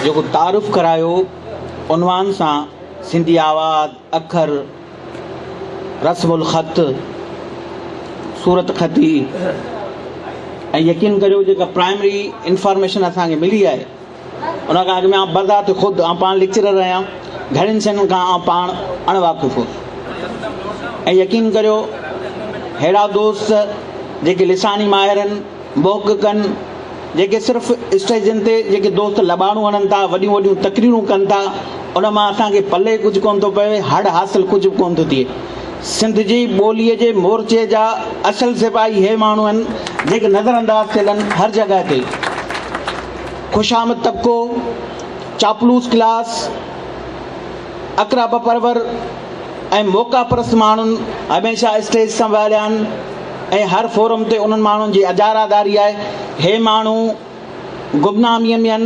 جيڪو تعارف ڪرايو عنوان سان سنڌي آواز، اکر، رسم الخط، صورتخطي ۽ يقين ڪريو جيڪا پرائمري انفارميشن اسان کي ملي آهي ان کان اڳ ۾ آئون بذات خود آئون پاڻ ليڪچرر آهيان گهڻين شين کان آئون پاڻ اڻ واقف هوس ۽ يقين ڪريو ههڙا دوست جيڪي لساني ماهرن محققن جيڪي صرف اسٽيجن تي جيڪي دوست لٻاڻو هڻن ٿا، وڏيون وڏيون تقريرون ڪن ٿا، ان مان اسان کي پلئي ڪجهه ڪونه ٿو پوي، هڙ حاصل ڪجهه به ڪونه ٿو ٿئي. سنڌ جي ٻوليء جي مورچي جا اصل سپاهي هي ماڻهو آهن، جيڪي نظر انداز ٿيل آهن، هر جڳهه تي خوشامد طبقو، چاپلوس ڪلاس، اقرا بپرور، ۽ موقعا پرست ماڻهن هميشه اسٽيج سنڀاليا آهن ۽ هر فورم تي انهن ماڻهن جي اجاراداري آهي. هي ماڻهو گمناميء ۾ آهن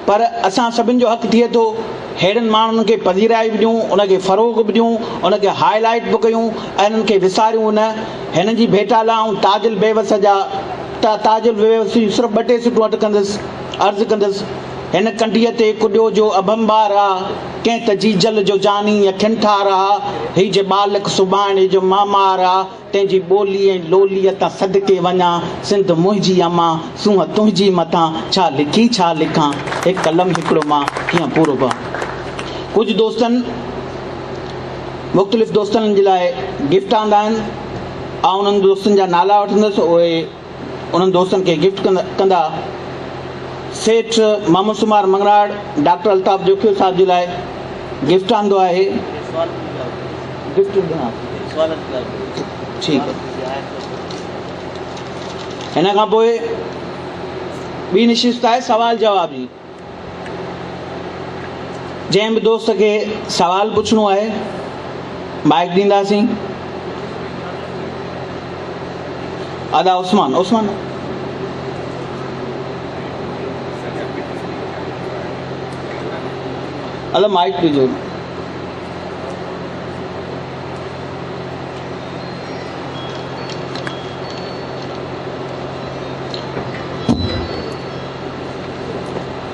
پر اسان سڀن جو حق ٿئي ٿو ههڙن ماڻهن کي پذيرائي به ڏيون، ان کي فروغ به ڏيون، ان کي هاء لائيٽ به ڪيون ۽ انهن کي وساريون نه. هنن جي ڀيٽا لاء آئون تاج البيوس جا تاج البيوس جون صرف ٻه ٽي سٽون اٽڪندس. عرض ڪندس هن ڪنڍيء تي ڪڏيو جو اڀنڀار آ. ڪنهن ته جيجل جو جاني اکين ٺار آ، هي جي ٻالڪ سڀاڻي جو معمار آ، تنهن جي ٻولي ۽ لوليء تان صدقي وڃان، سنڌ منهنجي امان، سونهن تنهنجي مٿان، ڇا لکين ڇا لکان، هڪ قلم هڪڙو مان، ڪيئن پورو پوان. ڪجهه دوستن مختلف دوستن جي لاء گفٽ آندا آهن، آئون انهن دوستن جا نالا وٺندس، اهي. انهن دوستن کي گفٽ ڪندا. سيٺ محمد سومار مڱراڙ ڊاڪٽر الطاف جوکيو صاحب جي لاء گفٽ آندو آهي. هن کان پوء ٻي نشست آهي سوال جواب جي. جنهن به دوست کي سوال پڇڻو آهي مائيڪ ڏينداسين ادا عثمان عثمان ادا مائيڪ ڏجو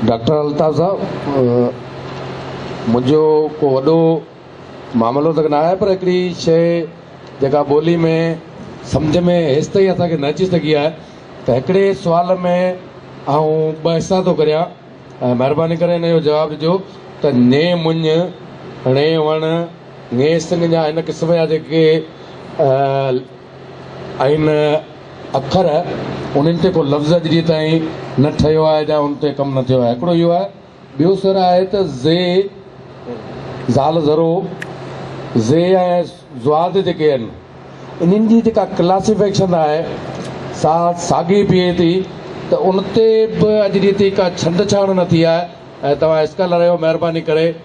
ڊاڪٽر الطاف صاحب منهنجو ڪو وڏو معاملو ته ناهي پر هڪڙي شيء جيڪا ٻولي ۾ سمجهه ۾ هيستائين اسان کي نه اچي سگهي آهي ته هڪڙي سوال ۾ آئون ٻه حصا ٿو ڪريان ۽ مهرباني ڪري هن جو جواب ڏجو ته ني مڃ ڻي وڻ ني سڱ جا هن قسم جا جيڪي آهن اکر انهن تي ڪو لفظ اڄ جي تائين نه ٺهيو آهي جا ان تي ڪم نه ٿيو آهي هڪڙو اهو آهي ٻيو سر آهي ته زي زال زرو زي ۽ زواد جيڪي آهن انهن جي جيڪا ڪلاسيفيڪشن آهي سا ساڳي بيهي ٿي ته ان تي به اڄ جي تائين ڪا ڇنڊ ڇاڻ نه ٿي آهي ۽ توهان اسڪالر آهيو مهرباني ڪري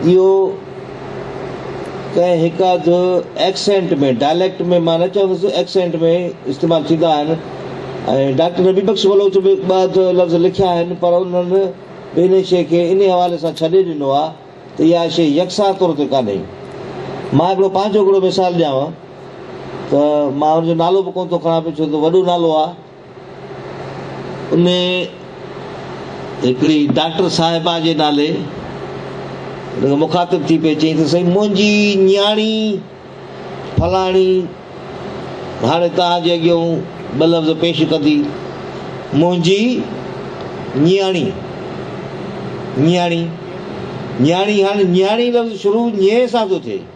اهو ڪنهن هڪ اڌ ايڪسينٽ ۾ ڊائليڪٽ ۾ مان نه چوندس ايڪسينٽ ۾ استعمال ٿيندا آهن ۽ ڊاڪٽر نبي بخش بلوچ به ٻه اڌ لفظ لکيا آهن پر انهن به انهي شيء کي انهي حوالي سان ڇڏي ڏنو آهي ته اها شيء يڪسان طور تي ڪانهي. مان هڪڙو پنهنجو هڪڙو مثال ڏيانء ته مان ان جو نالو به ڪونه ٿو کڻان پيو ڇو ته وڏو نالو آهي. ان هڪڙي ڊاڪٽر صاحبه جي نالي ان کي مخاطب ٿي پئي چئي ته سائين منهنجي نياڻي فلاڻي هاڻي توهان جي اڳيون ٻه لفظ پيش ڪندي منهنجي نياڻي نياڻي نياڻي هاڻي نياڻي لفظ شروع نيء سان ٿو ٿئي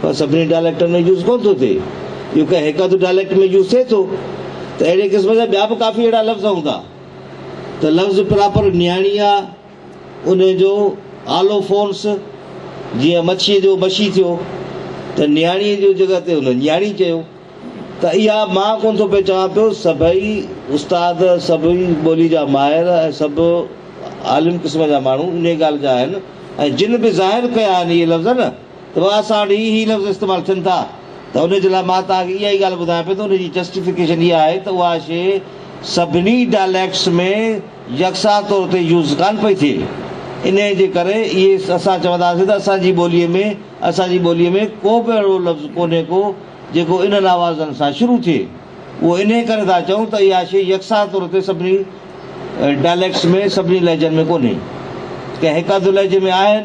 پر سڀني ڊائليڪٽن ۾ يوز ڪونه ٿو ٿئي. اهو ڪنهن هڪ اڌ ڊائليڪٽ ۾ يوز ٿئي ٿو ته اهڙي قسم جا ٻيا به ڪافي اهڙا لفظ هوندا ته لفظ پراپر نياڻي آ، ان جو آلو فونس جيئن مڇيء جو مشي ٿيو ته نياڻيء جي جڳهه تي هن نياڻي چيو ته اها مان ڪونه ٿو پئي چوان پيو سڀئي استاد سڀئي ٻولي جا ماهر ۽ سڀ عالم قسم جا ماڻهو انهيء ڳالهه جا آهن ۽ جن به ظاهر ڪيا آهن اهي لفظ نه توهان سان ڏي هي لفظ استعمال ٿين ٿا ته ان جي لاء مان توهان کي اها ئي ڳالهه ٻڌايان پيو ته ان جي جسٽيفڪيشن اها آهي ته اها شيء سڀني ڊائليڪٽس ۾ يڪسا طور تي يوز ڪانه پئي ٿئي انهيء جي ڪري اهي اسان چونداسين ته اسان جي ٻوليء ۾ اسان جي ٻوليء ۾ ڪو به اهڙو لفظ ڪونهي ڪو جيڪو انهن آوازن سان شروع ٿئي اهو انهيء ڪري ٿا چئون ته اها شيء يڪسا طور تي سڀني ڊائليڪٽس ۾ سڀني لهجن ۾ ڪونهي ڪنهن هڪ اڌ لهجي ۾ آهن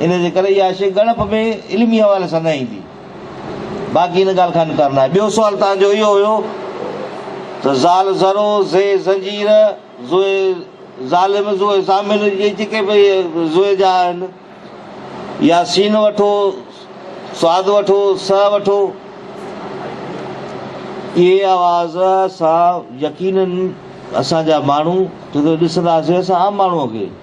ان جي ڪري اها شيء ڳڻپ ۾ علمي حوالي سان نه ايندي. باقي ان ڳالهه کان انڪار ناهي. ٻيو سوال توهان جو اهو هيو ته زال زرو، زئي زنجير، زوء ظالم، زوء زامل اهي جيڪي به زوء جا آهن يا سين وٺو، صاد وٺو، ص وٺو، اهي آواز اسان يقينن اسان جا ماڻهو جڏهن ڏسنداسين اسان عام ماڻهوء کي،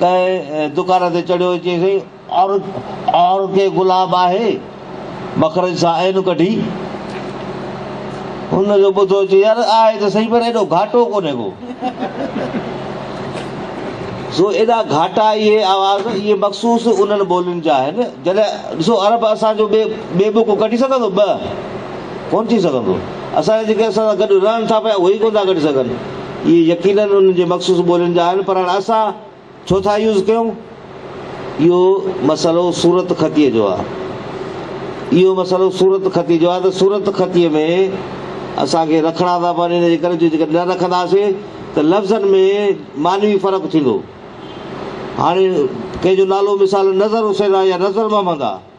ڪنهن دڪان تي چڙهيو ۽ چيسين، اور ڪي گلاب آهي؟ مخرج سان عين ڪڍي هن جو ٻڌو ۽ چيو، يار آهي ته سهي پر ايڏو گهاٽو ڪونهي ڪو. سو ايڏا گهاٽا اهي آواز، اهي مخصوص انهن ٻولين جا آهن. جڏهن ڏسو عرب اسان جو ٻئي بڪ ڪڍي سگهندو؟ ٻه ڪونه ٿي سگهندو. اسان جا جيڪي اسان سان گڏ رهن ٿا پيا اهي ئي ڪونه ٿا ڪڍي سگهن. اهي يقينن انهن جي مخصوص ٻولين جا آهن پر هاڻ اسان ڇو ٿا يوز ڪيون؟ اهو مسئلو صورت خطيء جو آهي. اهو مسئلو صورت خطيء جو آهي ته صورت خطيء ۾ اسان کي رکڻا ٿا پون ان جي ڪري جو جيڪڏهن نه رکنداسين ته لفظن ۾ معنوي فرق ٿيندو. هاڻي ڪنهن جو نالو مثالاً نظر حسين آهي يا نظر محمد آهي.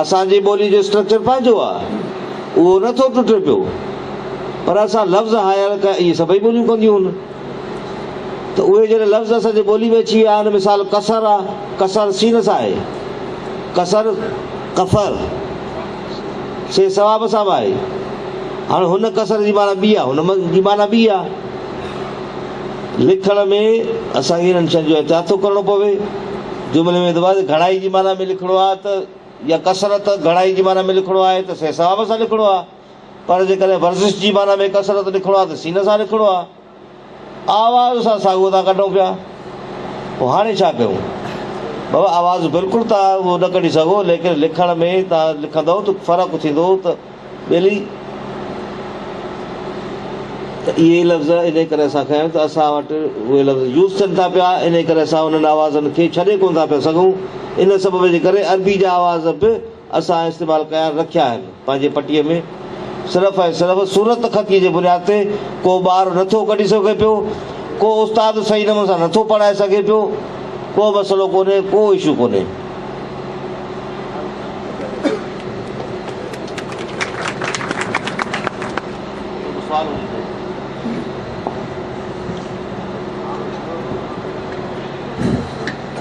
اسان جي ٻولي جو اسٽرڪچر پنهنجو آهي، اهو نه ٿو ٽٽي پيو، پر اسان لفظ هائير ڪيا، ائين سڀئي ٻوليون ڪنديون هن، ته اهي جهڙي لفظ اسان جي ٻولي ۾ اچي ويا آهن، مثال ڪسر آهي، ڪسر سين سان آهي، ڪسر، ڪفر، سين ثواب سان به آهي، هاڻ هن ڪسر جي معنيٰ ٻي آهي، هن جي معنيٰ ٻي آهي. لکڻ ۾ اسان کي انهن شين جو احتياط ٿو ڪرڻو پوي. جملي ۾ دوباره تي گهڻائي جي معنيٰ ۾ لکڻو آهي ته يا ڪثرت گهڻائي جي معنيٰ ۾ لکڻو آهي ته سهي ثواب سان لکڻو آهي پر جيڪڏهن ورزش جي معنيٰ ۾ ڪثرت لکڻو آهي ته سين سان لکڻو آهي. آواز سان ساڳو ٿا ڪڍون پيا. پوء هاڻي ڇا ڪيون؟ بابا آواز بلڪل ته اهو نه ڪڍي سگهو ليڪن لکڻ ۾ تان لکندؤ ته فرق ٿيندو ته ٻيلي، ته اهي ئي لفظ انهيء ڪري اسان کڻيا آهن ته اسان وٽ اهي لفظ يوز ٿين ٿا پيا، انهيء ڪري اسان انهن آوازن کي ڇڏي ڪونه ٿا پيا سگهون. ان سبب جي ڪري عربي جا آواز به اسان استعمال ڪيان رکيا آهن. پنهنجي پٽيء ۾ صرف ۽ صرف صورت خطيء جي بنياد تي ڪو ٻار نٿو ڪڍي سگهي پيو، ڪو استاد صحيح نموني سان نٿو پڙهائي سگهي پيو، ڪو مسئلو ڪونهي، ڪو اشو ڪونهي.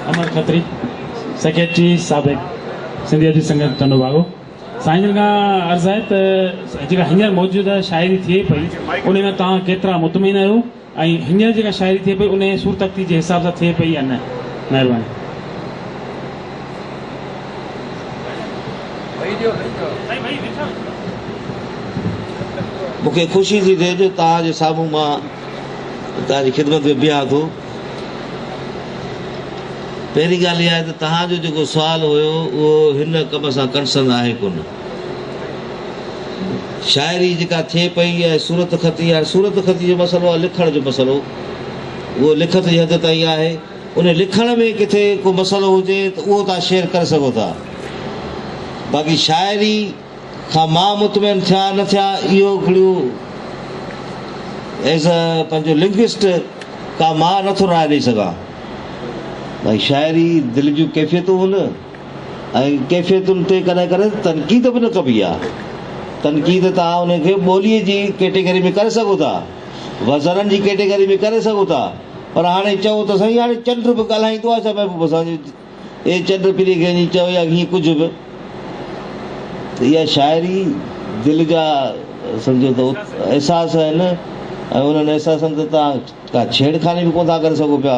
امر کتري سيڪريٽري سابق سنڌيء جي سنگت ٽنڊو باگو سائين جن کان عرض آهي ته جيڪا هينئر موجوده شاعري ٿئي پئي ان ۾ توهان ڪيترا مطمئن آهيو ۽ هينئر جيڪا شاعري ٿئي پئي انهيء سور تختي جي حساب سان ٿئي پئي يا نه؟ مهرباني. مون کي خوشي ٿي ٿئي جو توهان جي سامهون مان توهان جي خدمت ۾ بيهان ٿو. پهرين ڳالهه اها آهي ته توهان جو جيڪو سوال هيو اهو هن ڪم سان ڪنسرن آهي ڪونه. شاعري جيڪا ٿئي پئي اها آهي صورت خطي. هاڻي صورت خطي جو مسئلو آهي لکڻ جو مسئلو. اهو لکت جي حد تائين آهي. ان لکڻ ۾ ڪٿي ڪو مسئلو هجي ته اهو توهان شيئر ڪري سگهو ٿا. باقي شاعري کان مان مطمئن ٿيان نه ٿيان اهو هڪڙو ايز اي پنهنجو لنگوسٽ ڪا مان نٿو راء ڏئي سگهان. باقي شاعري دل جون ڪيفيتون هن. ۽ ڪيفيتن تي ڪڏهن ڪڏهن تنقيد به نه ڪبي آ. تنقيد توهان انهن کي ٻوليء جي ڪيٽيگري ۾ ڪري سگهو ٿا، وزنن جي ڪيٽيگري ۾ ڪري سگهو ٿا، پر هاڻي چئو ته سائين هاڻي چنڊ به ڳالهائيندو آ ڇا محبوب حسان جي اي چنڊ پلي کي ائين چئو يا هيئن ڪجهه به ته اها شاعري دل جا سمجهو ته احساس آهن ۽ انهن احساسن تي توهان ڪا ڇيڙ خاني به ڪونه ٿا ڪري سگهو پيا.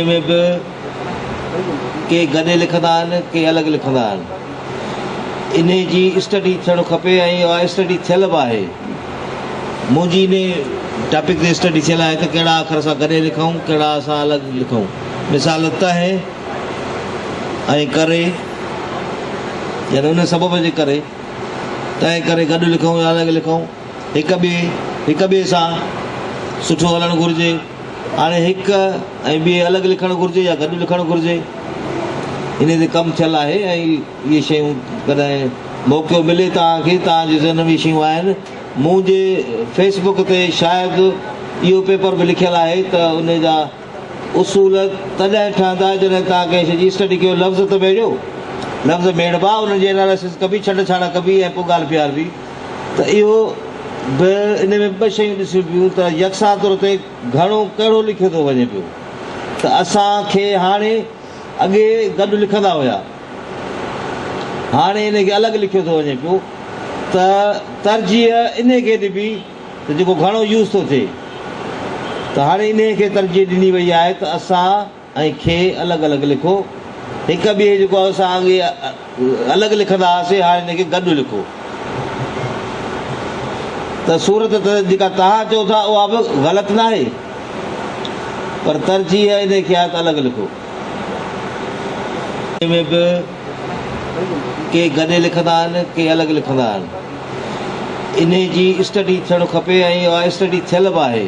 ان ۾ به ڪي گڏي لکندا آهن ڪي الڳ لکندا آهن انهي جي اسٽڊي ٿيڻ کپي ۽ اها اسٽڊي ٿيل به آهي منهنجي انهي ٽاپڪ تي اسٽڊي ٿيل آهي ته ڪهڙا اکر اسان گڏي لکون ڪهڙا اسان الڳ لکون مثال تهه ۽ ڪري يعني ان سبب جي ڪري تنهن ڪري گڏ لکون يا الڳ لکون هڪ ٻئي هڪ ٻئي سان سٺو هلڻ گهرجي هاڻي هڪ ۽ ٻئي الڳ لکڻ گهرجي يا گڏ لکڻ گهرجي انهي تي ڪم ٿيل آهي ۽ اهي شيون ڪڏهن موقعو ملي توهان کي توهان جي ذهن ۾ شيون آهن مون جي فيس بڪ تي شايد اهو پيپر به لکيل آهي ته انهي جا اصول تڏهن ٺهندا جڏهن توهان ڪنهن شي جي اسٽڊي ڪيو لفظ ته ميڙيو لفظ ميڙبا انهن جي اناليسس ڪبي ڇنڊ ڇاڙا ڪبي ۽ پوء ڳالهه پيار به ته اهو به ان ۾ ٻه شيون ڏسيون پيون ته يڪسان طور تي گهڻو ڪهڙو لکيو ٿو وڃي پيو ته اسان کي هاڻي اڳي گڏ لکندا هيا هاڻي ان کي الڳ لکيو ٿو وڃي پيو ته ترجيح ان کي ڏبي ته جيڪو گهڻو يوز ٿو ٿئي ته هاڻي انهي کي ترجيح ڏني وئي آهي ته اسان ۽ کي الڳ الڳ لکو. هڪ ٻئي جيڪو اسان اڳي الڳ لکندا هئاسين هاڻي ان کي گڏ لکو ته صورت ته جيڪا توهان چئو ٿا اها به غلط ناهي پر ترجيح انهي کي آهي ته الڳ لکو. ۾ به ڪي گڏي لکندا آهن ڪي الڳ لکندا آهن انهي جي اسٽڊي ٿيڻ کپي ۽ اها اسٽڊي ٿيل به آهي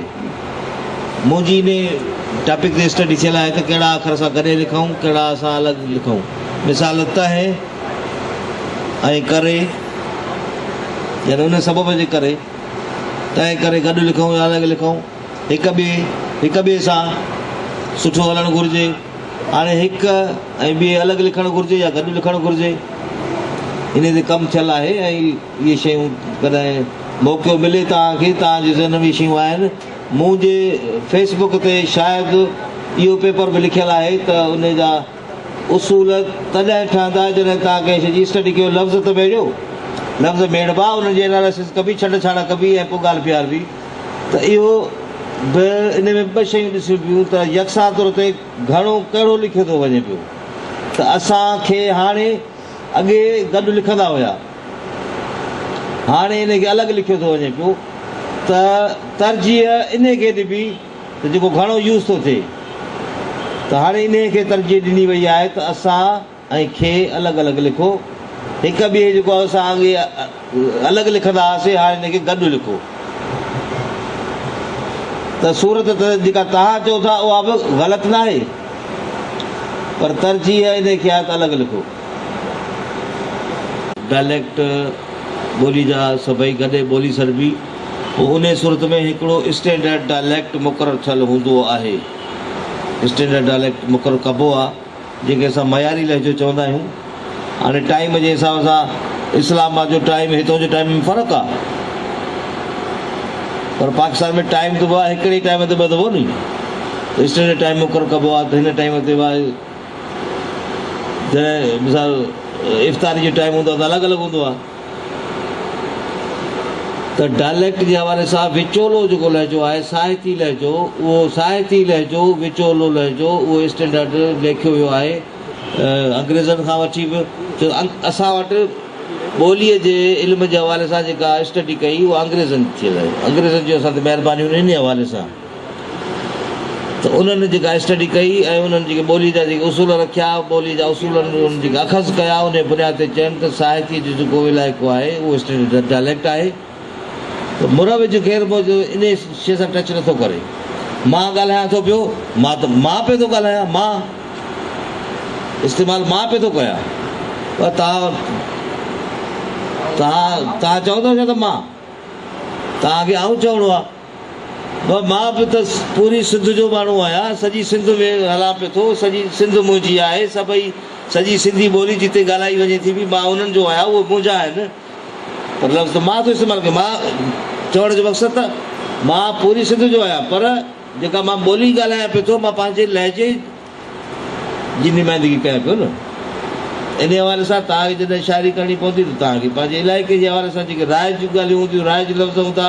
منهنجي انهي ٽاپڪ تي اسٽڊي ٿيل آهي ته ڪهڙا اکر اسان گڏي لکون ڪهڙا اسان الڳ لکون مثال ته ۽ ڪري يعني ان سبب جي ڪري تنهن ڪري گڏ لکون يا الڳ لکون هڪ ٻئي هڪ ٻئي سان سٺو هلڻ گهرجي هاڻي هڪ ۽ ٻئي الڳ لکڻ گهرجي يا گڏ لکڻ گهرجي انهي تي ڪم ٿيل آهي ۽ اهي شيون ڪڏهن موقعو ملي توهان کي توهان جي ذهن ۾ شيون آهن مون جي فيس بڪ تي شايد اهو پيپر به لکيل آهي ته انهي جا اصول تڏهن ٺهندا جڏهن توهان ڪنهن شي جي اسٽڊي ڪيو لفظ ته ميڙيو لفظ ميڙبا انهن جي اناليسز ڪبي ڇنڊ ڇاڻ ڪبي ۽ پوء ڳالهه پيار به ته اهو به ان ۾ ٻه شيون ڏسيون پيون ته يڪسان طور تي گهڻو ڪهڙو لکيو ٿو وڃي پيو ته اسان کي هاڻي اڳي گڏ لکندا هيا هاڻي ان کي الڳ لکيو ٿو وڃي پيو ته ترجيح ان کي ڏبي ته جيڪو گهڻو يوز ٿو ٿئي ته هاڻي انهي کي ترجيح ڏني وئي آهي ته اسان ۽ کي الڳ الڳ لکو. هڪ ٻئي جيڪو اسان اڳي الڳ لکندا هئاسين هاڻي ان کي گڏ لکو ته صورت ته جيڪا توهان چئو ٿا اها به غلط ناهي پر ترجيح ان کي آهي ته الڳ لکو. ڊائليڪٽ، ٻولي جا سڀئي گڏي ٻولي سڏبي، پوء انهيء صورت ۾ هڪڙو اسٽينڊرڊ ڊائليڪٽ مقرر ٿيل هوندو آهي. اسٽينڊرڊ ڊائليڪٽ مقرر ڪبو آ جنهن کي اسان معياري لهجو چوندا آهيون هاڻي ٽائيم جي حساب سان اسلام آباد جو ٽائيم هتو جي ٽائيم ۾ فرق آ پر پاڪستان ۾ ٽائيم ته بابا هڪڙي ٽائيم تي ٻڌبو ني ته اسٽينڊرڊ ٽائيم مقرر ڪبو آ ته هن ٽائيم تي بابا جڏهن مثال افطاري جو ٽائيم هوندو آ ته الڳ الڳ هوندو آ ته ڊائليڪٽ جي حوالي سان وچولو جيڪو لهجو آهي، ساهتي لهجو، اهو ساهتي لهجو، وچولو لهجو، اهو اسٽينڊرڊ ليکيو ويو آهي انگريزن کان وٺي به ڇو ته اسان وٽ ٻوليء جي علم جي حوالي سان جيڪا اسٽڊي ڪئي اها انگريزن ٿيل آهي، انگريزن جون اسان تي مهربانيون آهن انهيء حوالي سان. ته انهن جيڪا اسٽڊي ڪئي ۽ انهن جيڪي ٻوليء جا جيڪي اصول رکيا، ٻوليء جا اصول انهن جيڪي اخذ ڪيا، انهيء بنياد تي چيم ته ساهتيء جو جيڪو علائقو آهي، اهو اسٽينڊرڊ ڊچ ڊائليڪٽ آهي ته مروج خير مون جو انهيء شيء سان ٽچ نٿو ڪري. مان ڳالهايان ٿو پيو، مان ته مان پئي ٿو ڳالهايان، مان استعمال مان پئي ٿو ڪيان، پر توهان توهان توهان چئو ٿا ڇا ته مان توهان کي آئون چوڻو آهي؟ ڀا مان به ته پوري سنڌ جو ماڻهو آهيان، سڄي سنڌ ۾ هلان پيو ٿو، سڄي سنڌ منهنجي آهي، سڀئي سڄي سنڌي ٻولي جتي ڳالهائي وڃي ٿي پئي مان انهن جو آهيان، اهي منهنجا آهن پر لفظ ته مان ٿو استعمال ڪيان، مان چوڻ جو مقصد ته مان پوري سنڌ جو آهيان پر جيڪا مان ٻولي ڳالهايان پيو ٿو مان پنهنجي لهجي جي نمائندگي ڪيان پيو نه انهي حوالي سان توهان کي جڏهن شاعري ڪرڻي پوندي ته توهان کي پنهنجي علائقي جي حوالي سان جيڪي رائج ڳالهيون هونديون رائج لفظ هوندا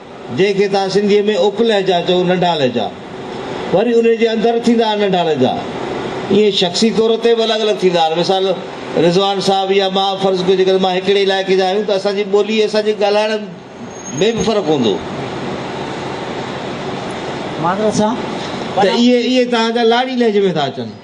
جنهن کي توهان سنڌيء ۾ اپ لهجا چئو، ننڍا لهجا. وري انهيء جي اندر ٿيندا آهن ننڍا لهجا. ائين شخصي طور تي به الڳ الڳ ٿيندا آهن. مثال رضوان صاحب يا مان فرض ڪيو جيڪڏهن مان هڪڙي علائقي جا آهيون ته اسان جي ٻولي ۽ اسان جي ڳالهائڻ ۾ به فرق هوندو. ته اهي توهان جا لاڙي لهجي ۾ ٿا اچن.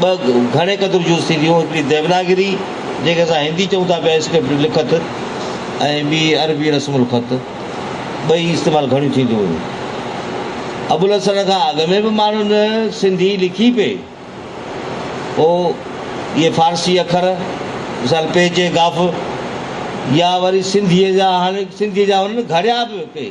ٻه گهڻي قدر جون سيريون، هڪڙي ديوناگري جنهن کي اسان هندي چئون ٿا پيا اسڪرپٽ لکت ۽ ٻي عربي رسم الخط ٻئي استعمال گهڻيون ٿينديون هيون. ابوالحسن کان اڳ ۾ به ماڻهن سنڌي لکي پئي هو اهي فارسي اکر مثال پيچ ۽گاف يا وري سنڌيء جا هاڻي سنڌيء جا هن گهڙيا به پئي.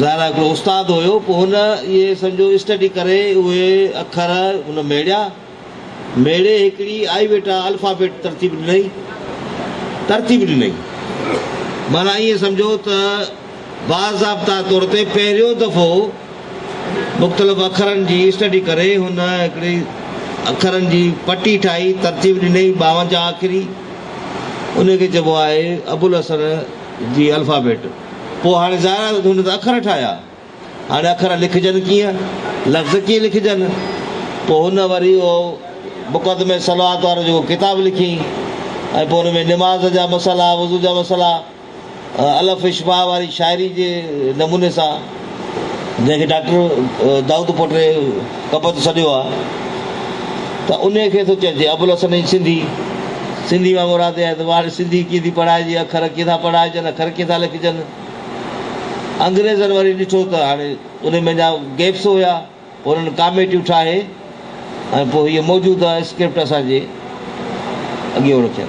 ظاهر آهي هڪڙو استاد هيو، پوء هن اهي سمجهو اسٽڊي ڪري اهي اکر هن ميڙيا، ميڙي هڪڙي آئيويٽا الفابيٽ ترتيب ڏنئي، ترتيب ڏنئي، معنيٰ ائين سمجهو ته باضابطه طور تي پهريون دفعو مختلف اکرن جي اسٽڊي ڪري هن هڪڙي اکرن جي پٽي ٺاهي ترتيب ڏنئي ٻاونجاهه اکري، انهي کي چئبو آهي ابوالحسن جي الفابيٽ. پوء هاڻي ظاهر آهي ته هن ته اکر ٺاهيا. هاڻي اکر لکجن ڪيئن؟ لفظ ڪيئن لکجن؟ پوء هن وري اهو مقدمه صلوات وارو جيڪو ڪتاب لکيائين ۽ پوء ان ۾ نماز جا مسئلا، وضو جا مسئلا، الف اشباع واري شاعري جي نموني سان، جنهن کي ڊاڪٽر دائود پوٽري ڪبت سڏيو آهي ته انهيء کي ٿو چئجي. ابوالحسن ۽ سنڌي، سنڌي مان مراد اها آهي ته واڻي سنڌي ڪيئن ٿي پڙهائجي، اکر ڪيئن ٿا پڙهائجن، اکر ڪيئن ٿا لکجن. انگريزن وري ڏٺو ته هاڻي انهيء ۾ اڃا گيپس هيا، انهن ڪاميٽيون ٺاهي ۽ پوء هيء موجوده اسڪرپٽ اسان جي اڳيون رکين.